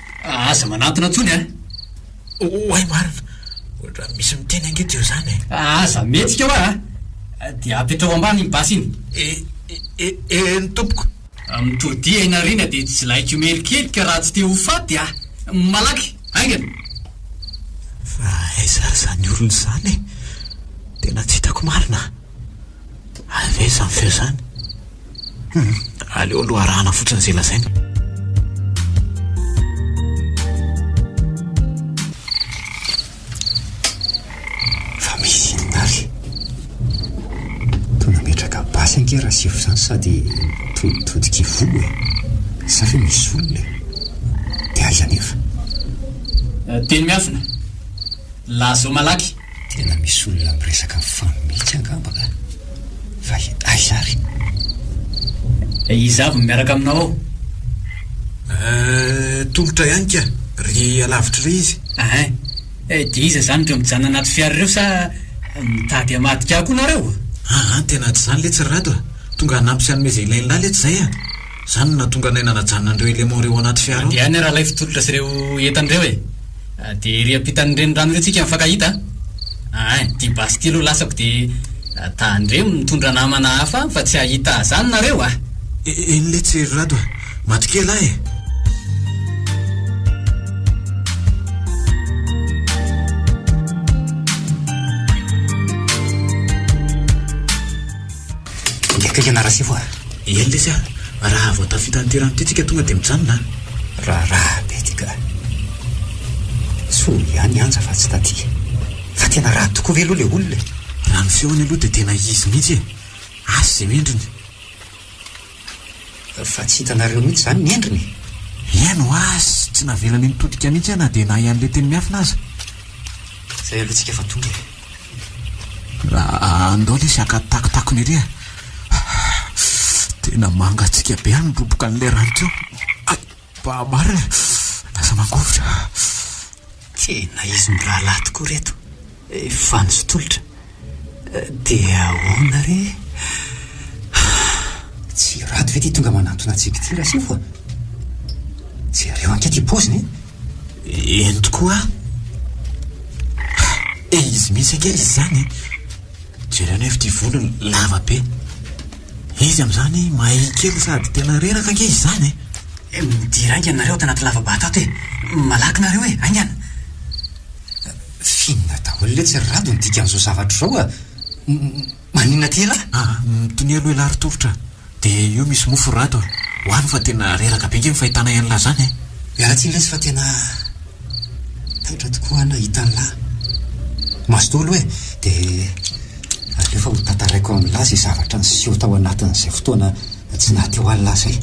Aza manantona intsony an! Oay marina! Ohatran'ny misy miteny ange teo izany e! Aza mihetsika hoa an! Dia apetraho ambany iny basy iny! E, e, e, eny tompoko! Mitodiha Inarina dia tsy laiko merikerika raha tsy te ho faty ah! Malaky! Haingana! Fa aiza ary izany olona izany e! Tena tsy hitako marina! Aiza aiza zany feo zany? Hum, aleo aloha arahana fotsiny izay lazainy. Fa misy inona ary? Toa nametraka basy ange Rasefo izany sady toa mitodika ivoho e. Sa ve misy olona e? Dia aiza anefa? Teny miafina. Lazao malaky. Tena misy olona miresaka ny fano mihitsy angamba ka! Fa aiza ary? Eh, iza avy no miaraka aminao ao? Eh, tolotra ihany ka! Ry alavitra ry izy. Ah eh! Eh, dia iza izany ireo mijanona anaty fiara ireo sa mitady hamadika ahy koa nareo? Ah ah, tena tsy izany letsy ry Rado ah! Tonga hanampy sy hanome izay ilain'lah letsy izay ah! Izany no nahatonga anay nanajanona an'ireo éléments ireo ao anaty fiara ao. Mandeha any ralay fitolotra sy ireo entana ireo e! Dia ery ampitan'ny renirano ery tsika mifankahita a! Ain! Ity basy ity aloha lasako dia tandremo mitondra namana hafa any fa tsy hahita azany nareo a! Eny letsy ry Rado a! Maty kely aho e! Dia akaiky anà Rasefo a! Eny lesy a! Raha vao tafita an'ity rano ity tsika tonga dia mijanona a! Raharaha be ity ka! Soa ihany Anja fa tsy taty. Fa tena raha tokoa ve aloha ilay olona e? Raha ny feony aloha dia tena izy mihitsy e! Asa izay endriny! Fa tsy hitanareo mihitsy izany ny endriny e! Eny ho azy, tsy navelany nitodika mihitsy aho na dia nahay an'ilay teny miafina aza. Izay aloha tsika fa tonga e! Andao lesy haka takotakony ery a! Tena mangatsiaka be any ny roboka an'ilay rano teo. Hay! Mba marina e! Lasa mangovitra. Tena izy mirahalahy tokoa ireto. Efa nizoa tolotra. Dia ahoana re? Tsy ratsy ve ity tonga manantona antsika ity Rasefo a? Jereo ange ity paoziny e! Eny tokoa an! Dia izy mihitsy ange izy izany e! Jereo anefa ity volony lava be. Izy amin'izany mahay kely sady tena reraka ange izy izany e! Eh, midira ainga nareo ato anaty lava-bato ato e! Malaky nareo e! Aingana! Finina daholo letsy ry Rado ny dikan'izao zavatra izao a! Maninona aty ialahy? Ah, mitoneo aloha ialahy ry Tolotra a! Dia io misy mofo ry Rado a! Ho any fa tena reraka be ange ny fahitana ian'lah izany e! Miala tsiny lesy fa tena taitra tokoa an nahita an'lah! Maso daholo e! Dia aleo fa hotantaraiko amin'lah izay zavatra niseho tao anatin'izay fotoana tsy naha teo an'lah izay!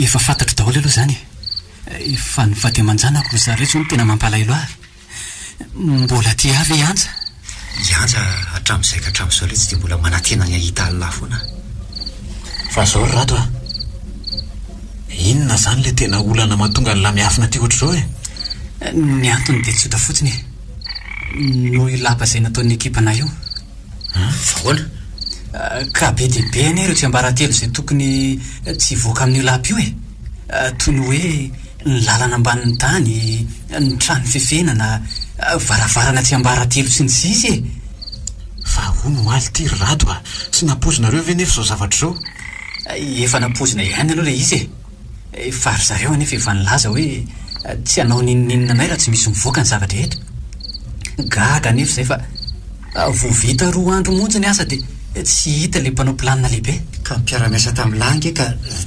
Efa fantatro daholo aloha izany e. Efa nifaty aman-janako ry zareo izao no tena mampalahelo ahy. Mbola aty ihany ve i Anja? I Anja hatramin'izay ka hatramin'izao iletsy dia mbola manantena ny hahita an'lah foana aho. Fa izao ry Rado a! Inona izany ilay tena olana mahatonga an'lah miafina aty ohatr'izao e? Ny antony dia tsotra fotsiny e! Noho io lapa izay nataon'ny ekipanay io. Fa ahoana? Ka be dia be anie ireo tsiambaratelo izay tokony tsy hivoaka amin'io lapa io e! Toy ny hoe. ny lalana ambanin'ny tany, ny trano fefenana, varavarana tsy ambaratelo sy ny sisa e! Fa hono omaly ity ry Rado a! Tsy nampoizinareo ve nefa izao zavatra izao? Efa nampoizina ihany aloha ilay izy e! Fa ry zareo anefa efa nilaza hoe tsy hanao n'inon'inona anay raha tsy misy mivoaka ny zava-drehetra. Gaga anefa izay fa. Vao vita roa andro monja ny asa dia tsy hita ilay mpanao planina lehibe. Ka ny mpiara-miasa tamin'i Lahy ange ka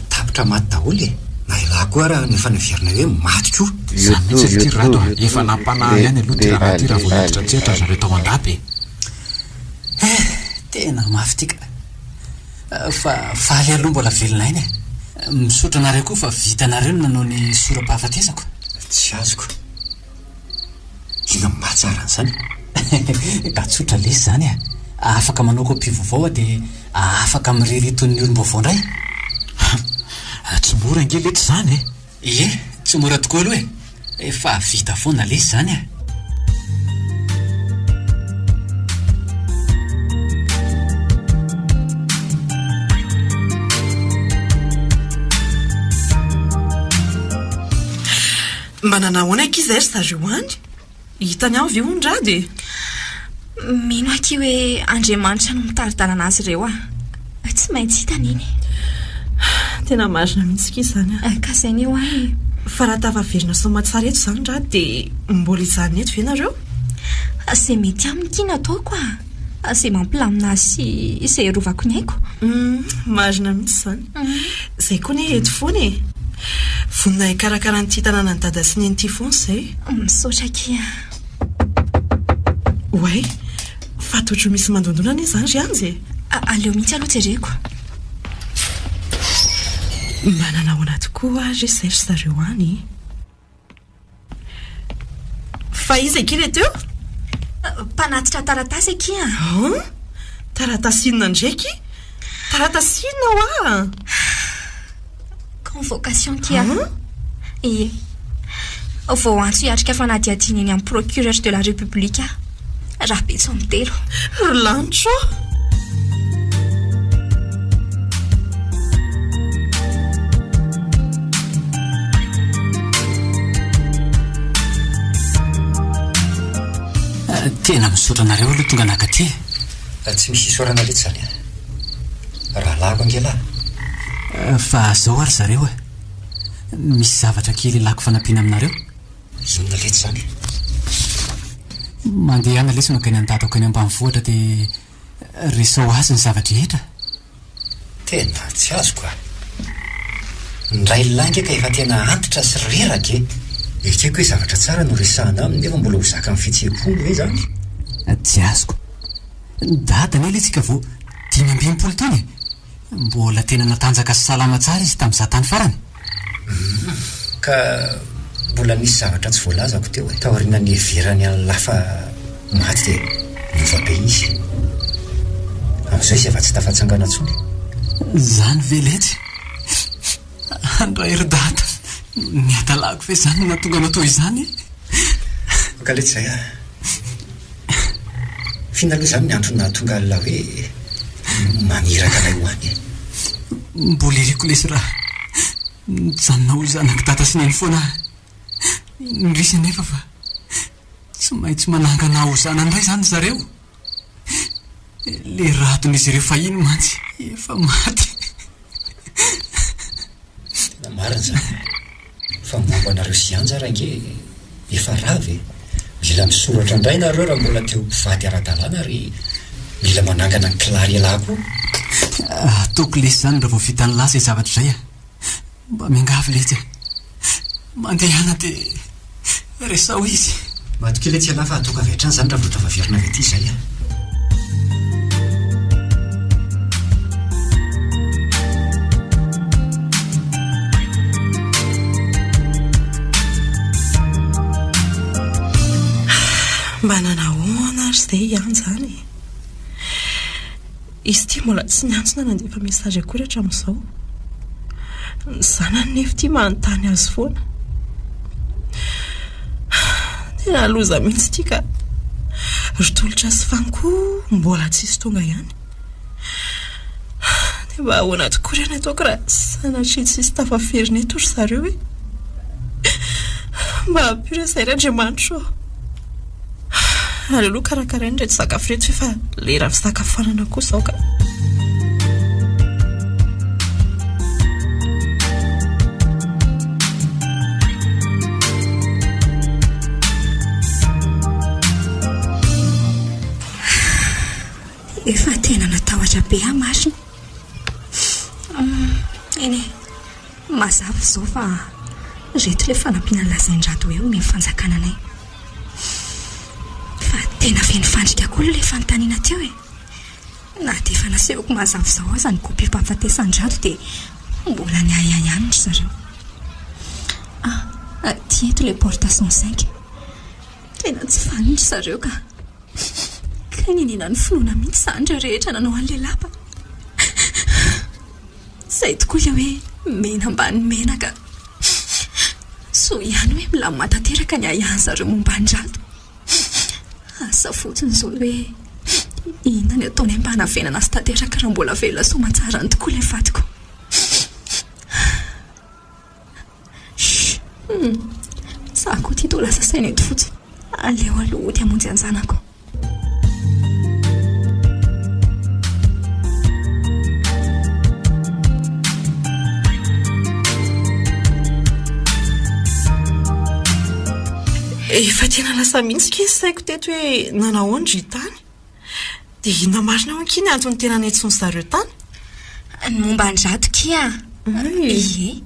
tapitra maty daholo e! Na i Lahy koa ary no efa niverina hoe maty koa. Zany mihitsy ry ty Rado a! Efa nampanahy ihany aloha ty rahalahy ty raha vao hiditra an-tsehatra ry zareo tao an-dapa e! Eh! Tena mafy ty ka! Fa faly aloha mbola velona aina e! Misaotra anareo koa fa vitanareo ny nanao ny sora-pahafatesako. Tsy azoko. Tena mahatsara an'izany e! Ka tsotra lesy izany e! Afaka manao copie vaovao aho dia afaka mirery toy ny olom-baovao indray. Hum, tsy mora ange letsy izany e! Ie, tsy mora tokoa aloha e! Efa vita foana lesy izany e! Manana ahoana akia izay ry zareo any? Hitany ao ve hono ra dia? Mino akia hoe Andriamanitra no mitari-dalana azy ireo ah. Tsy maintsy hitany iny. Tena marina mihitsy akia izany ah. Ka izay ny eo ah e. Fa raha tafaverina soamatsara eto izany ra dia mbola hijanona eto ve nareo? Izay mety aminy akia no ataoko ah. Izay mampilamina azy sy izay arovako ny aiko. Marina mihitsy izany. Izay koa anie eto foana e! Vonona hikarakara an'ity tanànan'i Dada sy Neny ity foana izay. Misaotra akia a! Oay! Fa tojo misy mandondona anie izany ry Anjy e! Aleo mihitsy aloha jereko. Mba nanao ahoana tokoa ary izay ry zareo any? Fa iza akia ilay teo? Mpanatitra taratasy akia. An? Taratasy inona indray akia? Taratasy inona hoa? Convocation akia. An? Ie. Vao antso hiatrika fanadihadiana eny amin'ny procureur de la République aho. Rabetso mitelo. Ry lanitra ô! Tena misaotra anareo aloha tonga naka aty e. Tsy misy isaorana reto izany a. Ah. Rahalahiko ange lahy. Eh, fa zao ary zareo e. Eh. Misy zavatra kely ilako fanampiana aminareo. Zonona letsy izany e! Mandehana lesy makany an-dadako eny ambanivohitra dia resao azy ny zava-drehetra. Tena tsy azoko a! Ny railahy nge ka efa tena antitra sy reraka e! Ekeko hoe zavatra tsara no resahana aminy nefa mbola ho zakan'ny fihetseham-pony ve izany? Tsy azoko. Dada anie lesy ka vao dimy ambin'ny folo taona e! Mbola tena natanjaka sy salama tsara izy tamin'izaho tany farany. Humm. Ka mbola nisy zavatra tsy voalazako teo e. Taoriana niheverany an'i Lafa maty dia niova be izy. Amin'izao izy efa tsy tafatsangana intsony e. Izany ve letsy? Andray ry dada, ny hadalako ve izany no nahatonga anao toy izany e? Mankaletsy izay an! F'inona aloha izany ny antony nahatonga an'ilay hoe maniraka anay ho any e? Mbola iriko lesy raha nijanona ho zanak'i dada sy neny foana aho. Indrisy anefa fa tsy maintsy manangana ahy ho zanany indray izany ry zareo. Ilay radon'izy ireo fahiny mantsy efa maty. Tena marina izany. Fa momba anareo sy Anja ary ange efa rava e! Mila misoratra indray nareo raha mbola te ho mpivady ara-dalàna ary mila manangana ny klarelà koa. Ataoko lesy izany raha vao vita ny lasa izay zavatra izay a! Mba miangavy letsy e. Mandehana dia resaho izy. Matokia letsy ialahy fa hatoka avy hatrany izany raha vao tafaverina avy aty izay a. Mba nanahona ary izay ihany izany e. Izy ity mbola tsy niantsona nandefa message akory hatramin'izao. Ny zanany nefa ity manontany azy foana. Tena loza mihitsy ity ka. Ry Tolotra sy Fano koa mbola tsisy tonga ihany. Dia mba ahoana tokoa re ny ataoko raha sanatria tsisy tafaverina eto ry zareo e. Mba ampio re izay ry Andriamanitra ô. Aleo aloha karakaraina ireto sakafo ireto ve fa lera fisakafoanana koa izao ka. Efa tena natahotra be aho marina. Eny e. Mazava izao fa ireto ilay fanampiana nolazain-dRato hoe omeny fanjakana anay. Fa tena feno fandrika koa ilay fanontaniana teo e! Na dia efa nasehoko mazava izao aza ny kopiam-pahafatesan-dRato dia mbola niahiahy ihany ry zareo. Ah, aty eto ilay porte cent cinq. Tena tsy faly ry zareo ka! Kay niniana ny finoana mihitsy izany ireo rehetra nanao an'ilay lapa. Izay tokoa ilay hoe mena ambany menaka. Soa ihany hoe milamina tanteraka ny ahiahy zareo momba an-dRato. Asa fotsiny izao ny hoe inona ny ataony mba hanavenana azy tanteraka raha mbola velona soamantsara any tokoa ilay vadiko. Humm! Tsara koa ity toa lasa saina eto fotsiny. Aleo aloha hody hamonjy an-janako. Efa tena lasa mihitsy akia ny saiko teto hoe nanahoana ry tany? Dia inona marina hono ki ny antony tena niantsoan-dry zareo tany? Ny momba an-dRato ki an! Ie,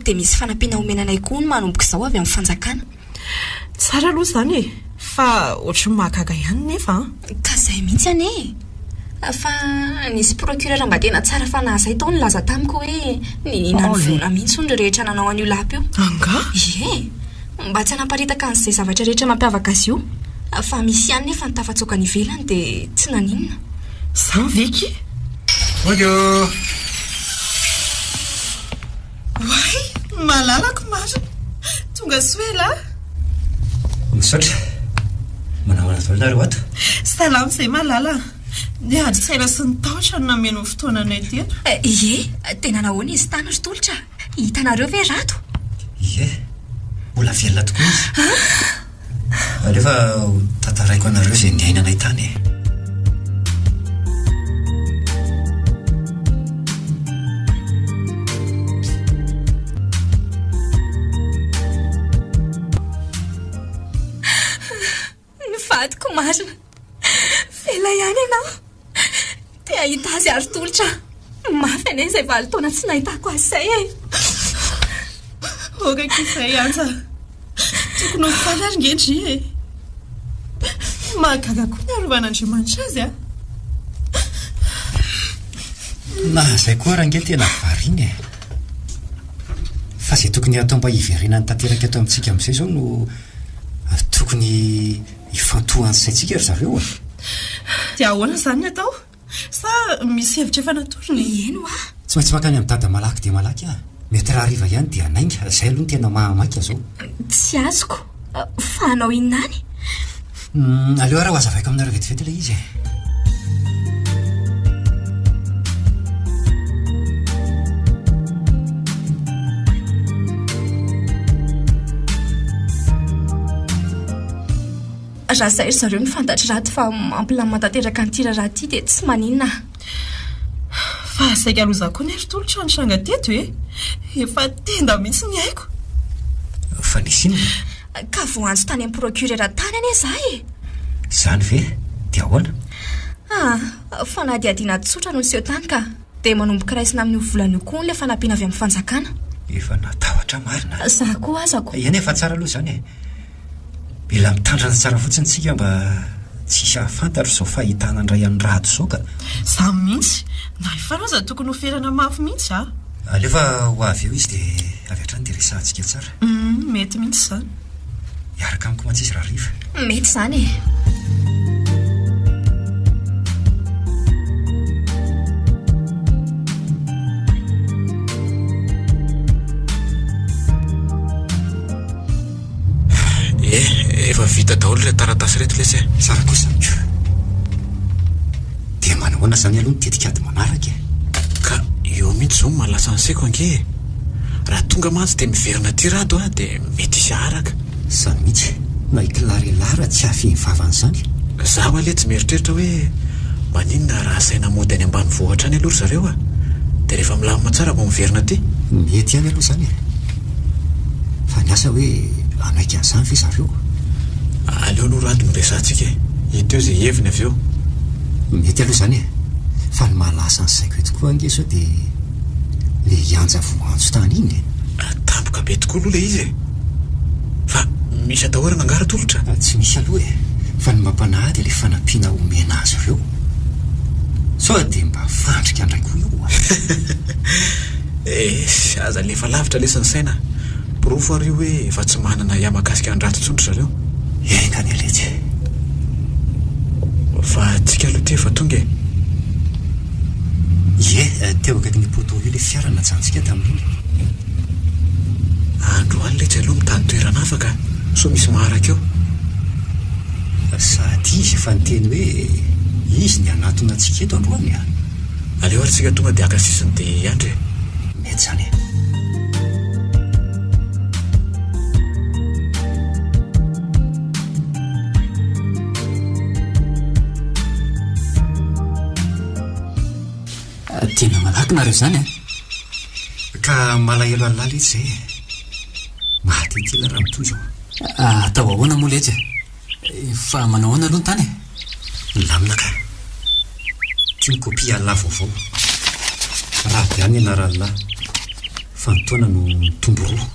dia misy fanampiana homena anay koa hono manomboka izao avy amin'ny fanjakana. Tsara aloha izany e! Fa ohatry ny mahagaga ihany nefa an! Ka izay mihitsy anie e! Fa nisy procureur mba tena tsara fanahy izay tao nilaza tamiko hoe niniana ny vola mihitsy hono ry rehetra nanao an'io lapa io. Angaha? Ie. Mba tsy hanaparitaka an'izay zavatra rehetra mampiavaka azy io. Fa misy ihany nefa ny tafatsoaka any ivelany dia tsy naninona. Izany ve ki? Bonjour! Oay! Malalako marina! Tonga soa elah! Misaotra! Manamana izao ianareo ato? Salama izay malala! Ny ady saina sy ny tahotra no nameno ny fotoananay teto. Ie! Tena nahoana izy tany ry Tolotra? Hitanareo ve Rado? Ie, mbola velona tokoa izy. Ah! Aleo fa ho tantaraiko anareo izay niainanay tany e. Ny vadiko marina. Velay any ianao. Te hahita azy ary tolotra aho. Mafy anie izay valo taona tsy nahitako azy izay e. Hoga akia izay Anja. Tokony ho faly ary nge dry e. Mahagaga koa ny arovan'Andriamanitra azy a. Na izay koa ary nge tena variana e. Fa izay tokony hatao mba hiverenany tanteraka eto amintsika amin'izay izao no Ary tokony hifantohan'ny saintsika ry zareo e! Dia ahoana izany ny atao? Sa misy hevitra efa natorony? Mihaino aho. Tsy maintsy mankany amin'i Dada malaky dia malaky aho. Mety rahariva ihany dia hanainga. Izay aloha no tena maha maika izao. Tsy azoko. Fa hanao inona any? Aleo ary ho azavaiko aminareo vetivety ilay izy e. Raha izay ry zareo no fantatry raty fa mampilamina tanteraka an'ity raharaha ity dia tsy maninona. Fa saika aloha izaho koa nery tolotra ny tranga teto e. Efa tenda mihitsy ny aiko. Fa nisy inona? Ka voantso tany amin'ny procureur tany anie za e! Izany ve? Dia ahoana? Ah, fanadihadiana tsotra no niseho tany ka. Dia manomboka raisina amin'io volana io koa hono ilay fanampiana avy amin'ny fanjakana. Efa natahotra marina. Za koa aza ko. Eny efa tsara aloha izany e. Mila mitandrina tsara fotsiny tsika mba tsy hisy hahafantatra izao fahitana an-dray an'i Rado izao ka. Za mihitsy. Na efa aloha aza tokony ho ferana mafy mihitsy ah. Alefa ho avy eo izy dia avy hatrany dia resahantsika tsara. Humm mety mihitsy izany. Hiaraka amiko mantsy izy rahariva. Mety izany e. vita daholo ilay taratasy reto lesy e sara kosa miko dia manahoana izany aloha ny tetikady manaraka e ka eo mihitsy izao no mahalasa ny seko ange Raha tonga mantsy dia miverina aty Rado a, dia mety hisy haharaka. Za mihitsy na i Clara i Lara tsy hahafehy vava an'izany. Za ho'a le tsy mieritreritra hoe maninona raha asaina mody any ambanivohitra any aloha ry zareo a, dia rehefa milamina tsara vao miverina aty. Mety ihany aloha izany e. Fa ny asa hoe hanaiky an'izany ve zareo? Aleo aloha Rado no resahantsika e. Hita eo izay heviny avy eo. Mety aloha izany e. Fa ny mahalasa ny saiko eto koa ange sao dia. ilay antsa voantso tany iny e! Tampoka be tokoa aloha ilay izy e! Fa misy atahorana angaha Ratolotra? Tsy misy aloha e! Fa ny mba mpanahy dia ilay fanampiana omena azy ireo. Sao dia mba fandrika indray koa io a! Esy, aza alefa lavitra lesy ny saina. Porofo ary io hoe efa tsy manana ahiahy mahakasika an'drato intsony ry zareo. Enga anie letsy e! Fa antsika aloha ity efa tonga e! Ie, teo akaikin'ny poteau io ilay fiara najantsika tamin'iny. Androany letsy aleo mitady toerana hafa ka, sao misy maharaka eo. Sady izy efa niteny hoe izy ny hanatona antsika eto androany an! Aleo ary tsika tonga dia haka sisiny dia hiandry e! Mety izany e! Tena malaky nareo izany an! Ka malahelo alala izy izay e! Mahatitila raha mitohy izao. Atao ahoana moa letsy e! Fa manao ahoana aloha ny tany e? Milamina ka. Ity ny kopia alala vaovao. Raha avy any ianaralalahy, fa ny taona no mitombo roa.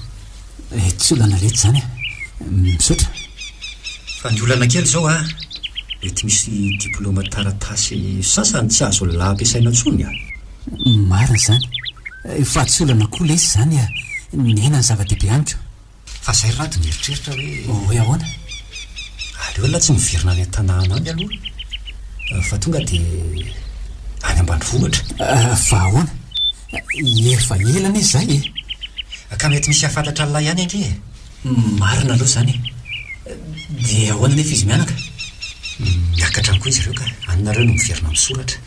Eh, tsy olana letsy zany eh. Misaotra. Fa ny olana kely zao ah, mety misy diplôma taratasy sasany tsy azo lahy ampiasaina tsony ah. Marina zany. Eh, fa tsy olana koa lesy zany ah. Ny aina ny zava-dehibe amiko. Fa zay rado ny eritreritra hoe. Oh, hoe ahoana? Aleo la tsy miverina any an-tanàna any aloha. Eh, fa tonga dia any ambanivohitra. Eh, fa ahoana? Efa ela anie izay e! Ka mety misy hahafantatra an'ilay ihany ange e! Marina aloha izany e! Dia ahoana anefa izy mianaka? Miakatra any koa izy ireo ka any nareo no miverina misoratra.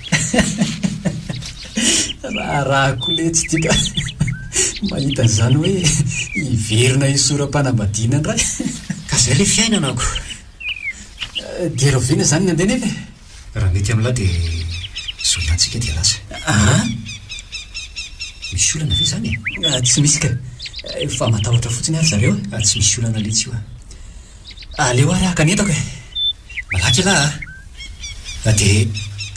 Raharaha koa letsy ity ka! Mahita an'izany hoe hiverina hisora-panambadiana indray. Ka izay ilay fiainana ko! Dia rahoviana izany ny andeha nefa e? Raha mety amin'lah dia zao ihany tsika dia lasa. Aa! Misy olana ve zany e? Tsy misy ka! Fa matahotra fotsiny aho ry zareo a! Tsy misy olana letsy io a! Aleo ary haka ny entako e! Malaky elah a! Dia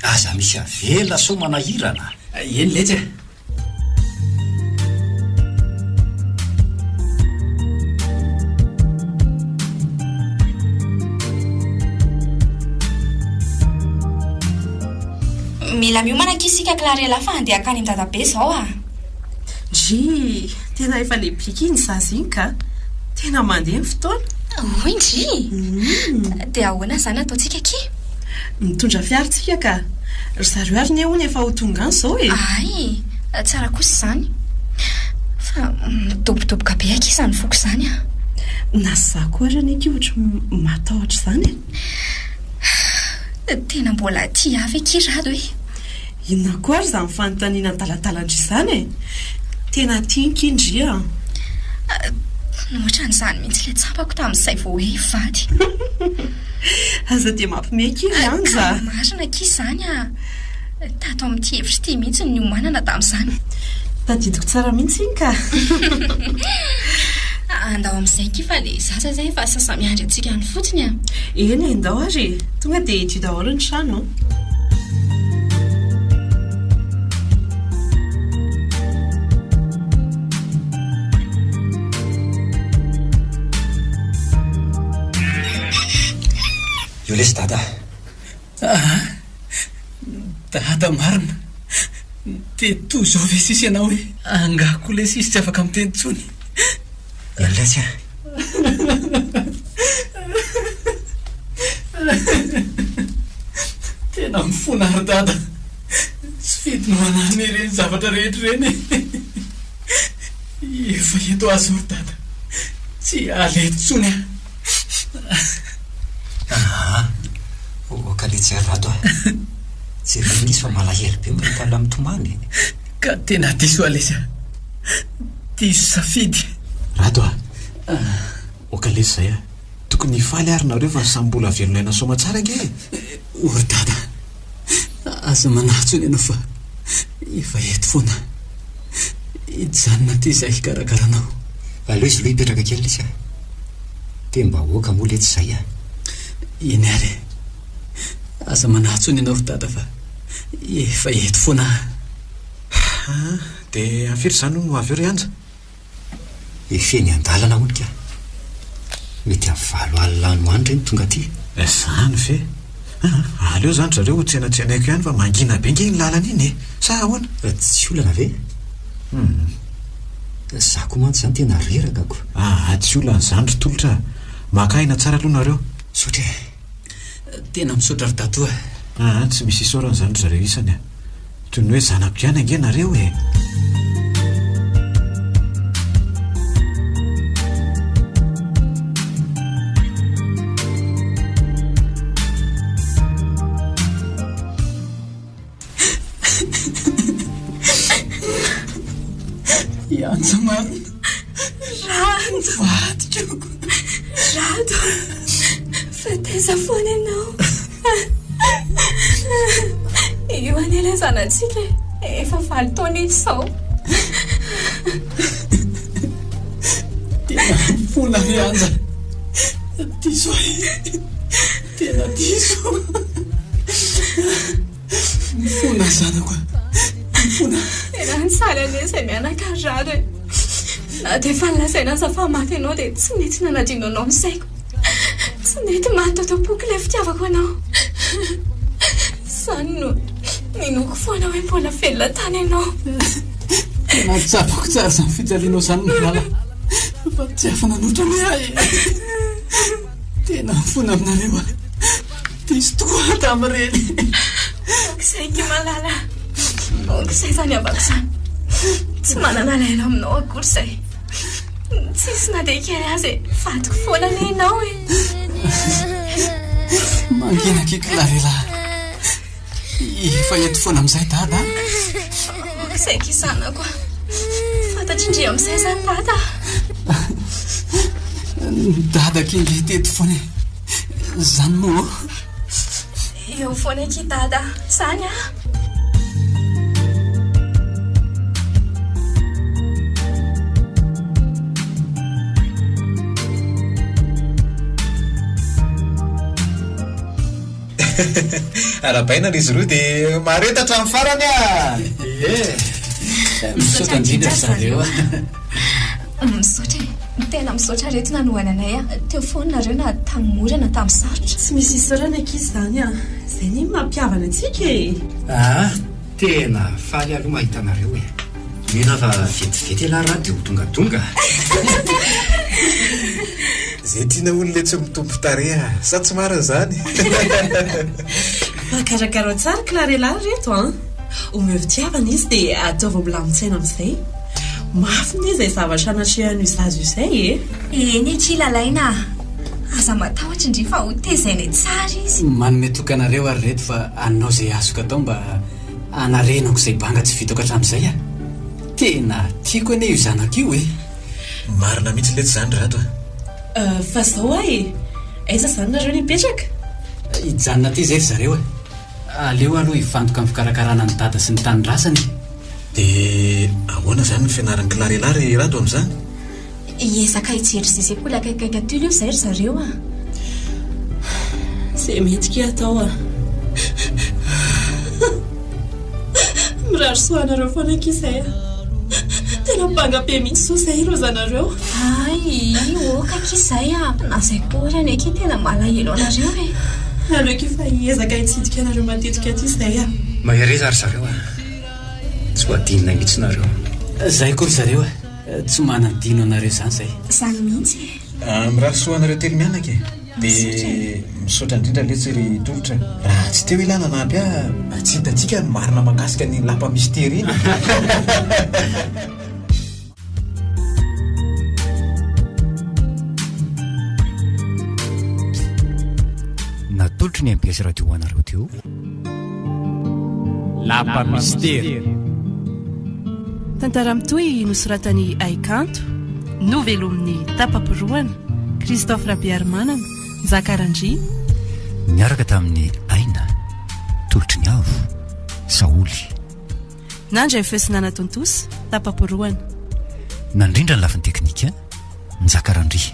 aza misy avela sao manahirana a! Eny letsy a! Mila miomana akia isika Clarella fa handeha akany an-dadabe izao ah. Ndry, tena efa lehibe akia ny zaza iny ka. Tena mandeha ny fotoana. Hoy ndry, dia ahoana izany ataontsika akia? Mitondra fiara tsika ka. Ry zareo ary ne hono efa ho tonga any zao e! Ahay e! Tsara kosa izany. Fa midobodoboka be akia izany foko izany an! Na za koa ary anie akia ohatry ny matahotra izany e! Tena mbola aty avy akia Rado e! Inona koa ary izany fanontaniana adaladalandry izany e! Tena tia ankia ndry an! Ohatran'izany mihitsy ilay tsapako tamin'izay vao hoe hivady. Aza dia mampime akia ry Anja a! Ka marina akia izany a! Tato amin'ity efitra ity mihitsy no niomanana tamin'izany. Tadidiko tsara mihitsy iny ka! Andao amin'izay akia fa ilay zaza izay efa sasa-miandry antsika any fotsiny a! Eny e, ndao ary e! Tonga dia hidio daholo ny trano. Io lesy dada. Aa, dada marina. Dia toa izao ve sisa ianao hoe. Angaha koa lesy izy tsy afaka miteny intsony. Eny lesy a. Tena mifona ry dada. Tsy fidiny ho anarina ireny zavatra rehetra ireny e. Efa eto aho izao ry dada. Tsy hiala eto intsony aho. Aa! Ô kaletsy ry Rado a! Jereo an'izy fa malahelo be mahita anao mitomany e! Ka tena diso aho lesy a! diso safidy. Rado a! oka lesy izay a! tokony hifaly ary nareo fa samy mbola velona aina soamatsara ange e! O ry dada, aza manatso ny anao fa efa eto foana hijanona aty izahay hikarakara anao. Aleo izy aloha hipetraka kely lesy a! tem-bahoaka moa letsy izay a! Eny ary e! aza manatso ny anao ry dada fa efa eto foana aho. Dia firy izany hono ho avy eo ry Anja? Efa eny an-dalana hono kah. Mety amin'ny valo alina any ho any re no tonga aty. Izany ve? Aa, aleo izany ry zareo ho tsenatsenaiko ihany fa mangina be ange iny lalana iny e! Sa ahoana? Tsy olana ve? Hum. Izaho koa mantsy izany tena reraka ko. Aa, tsy olana izany ry Tolotra a! Maka aina tsara aloha nareo. Misaotra e! Tena misaotra ry Dato a! Aa tsy misy isaorana izany ry zareo isany a! Toy ny hoe zanako ihany ange nareo e! Hiantso marina. Rado. Vadiko. Rado. Fatesa foana ianao. Io anie ilay zanatsika e. Efa valo taona izao. Tena fona ry Anja. Diso ahy. Tena diso. Mifona zanako a. Mifona. Tena nisaly anie izay mianaka rara e. Na dia efa nolazaina aza fa maty ianao dia tsy nety nanadino anao ny saiko. Tsy nety maty tato am-poko ilay fitiavako anao. Izany no ninoako foana hoe mbola velona tany ianao. Tena tsapako tsara izany fijalianao izany malala. Fa tsy afa-nanoatra anie aho e. Tena mifona aminareo aho. Diso tokoa tamin'ireny. Manko izay ity malala. Manko izay fa niambako izany. Tsy manana lalana aminao akory izay. Tsisy na dia kely aza e. Vadiko foana anie ianao e. Mangina kiky Larela. Efa eto foana amin'izay dada a! Saingy zanako a! Fantatry ndry amin'izay izany dada a! Ny dadako indry teto foana e! Izany moa ô? Eo foana eky dada a! Izany a! Arabaina ry zroo de mahareta hatramin'ny farany a! Eeh! Misaotra indrindra ry zareo a! Misaotra e! Tena misaotra reto nanohana anay a! Teo foana nareo na tamin'ny mora na tamin'ny sarotra. Tsy misy isaorana ankizy izany a! Izay anie no mampihavana antsika e! Aa! Tena faly aloha mahita anareo e. Mila fa vetivety elah ra de ho dongadonga a. Ze tiana ho nle tsy mitombo tarehy a. Sa tsy marina zany? Mpakarakara tsara Clarella reto an! Omeo fitiavana izy de ataovy milamin-tsaina amzay. Mafy ne zay zavatra anatrehan'io zaza io zay e! Eny ki Lalaina a. Aza matahotra ndry fa ho tezainay tsara izy. Manome toky anareo ary reto fa. Anao izay azoko atao mba hanarenako izay banga tsy vitako hatramin'izay a! Tena tiako anie io zanako io e! Marina mihitsy letsy izany Rado a! Fa izao hoa e! Aiza izany nareo no hipetraka? Hijanona aty izay ry zareo e! Aleo aloha hifantoka amin'ny fikarakarana an'i Dada sy ny tanindrasany e! Dia ahoana izany ny fianaran'i Clarela ry Rado amin'izany? Hiezaka hijery izay sekoly akaikikaiky aty aloha izay ry zareo a! Izay mety kay atao a! Mirary soa anareo foana akia izay a! Tena banga be mihitsy izao izay ireo zanareo. Hay, ok akia izay a! Na izay koa ary akia tena malahelo anareo e! Aleo akia fa hiezaka hitsidika anareo matetika aty izay a! Mahereza ry zareo a! Tsy ho adinonay mihitsy nareo. Izay koa ry zareo a! Tsy manadino anareo zany zay. Zany mihitsy e. Ah, mirary soa anareo telo mianaka e. Dia misaotra indrindra letsy ry Tolotra. Raha tsy teo ilah nanampy ahy mba tsy hitantsika ny marina mahakasika an'iny lapa misy tery iny e. Natolotry ny mbs radio ho anareo teo. Lapa Mistery. Tantara mitohy nosoratan'i Haikanto, novelomin'ny Tapa-porohana, Christophe Rabearimanana, Nzaka Randria. Niaraka tamin'i Aina, tolotry ny avo, Saholy. Nandry feu sy nanatontosa, Tapa-porohana. Nandrindra ny lafiny teknika, Nzaka Randria.